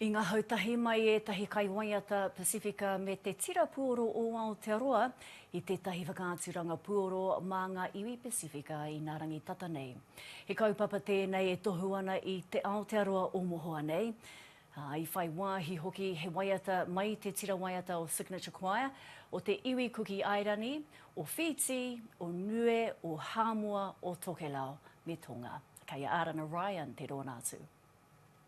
I ngahau tahi mai ētahi kaiwaiata Pasifika me te Tira Puoro o Aotearoa i tētahi whakaaturanga puoro mā ngā iwi Pasifika Inārangi Tata nei. He kaupapa tēnei e tohu ana i Te Aotearoa o Mohoa nei, ā, i whai wāhi hoki he waiata mai te tira waiata o Signature Choir, o te iwi Kuki Airani, o Whītī, o Niue, o Hāmoa, o Tokelau, me Tonga. Kei a Arana Ryan te rōnā tū.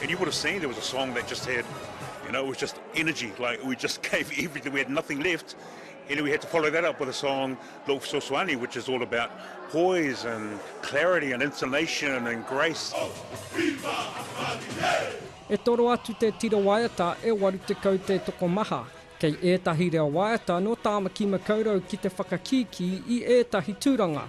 And you would have seen there was a song that just had, you know, it was just energy, like we just gave everything, we had nothing left. And we had to follow that up with a song, Lok Soswani, which is all about poise and clarity and intonation and grace. E toro atu te tira waiata e 80 te tokomaha. Kei ētahi reo waiata nō Tāmaki Makaurau ki te whakakīkī i ētahi tūranga,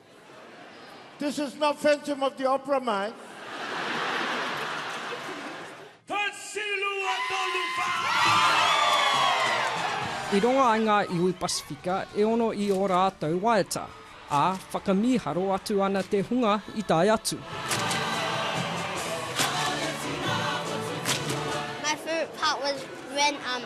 This is not Phantom of the Opera, mate. I rongo ai ngā iwi Pasifika e ono i ō rātou waeata, ā, whakamīharo atu ana te hunga i tae atu. My favourite part was when um,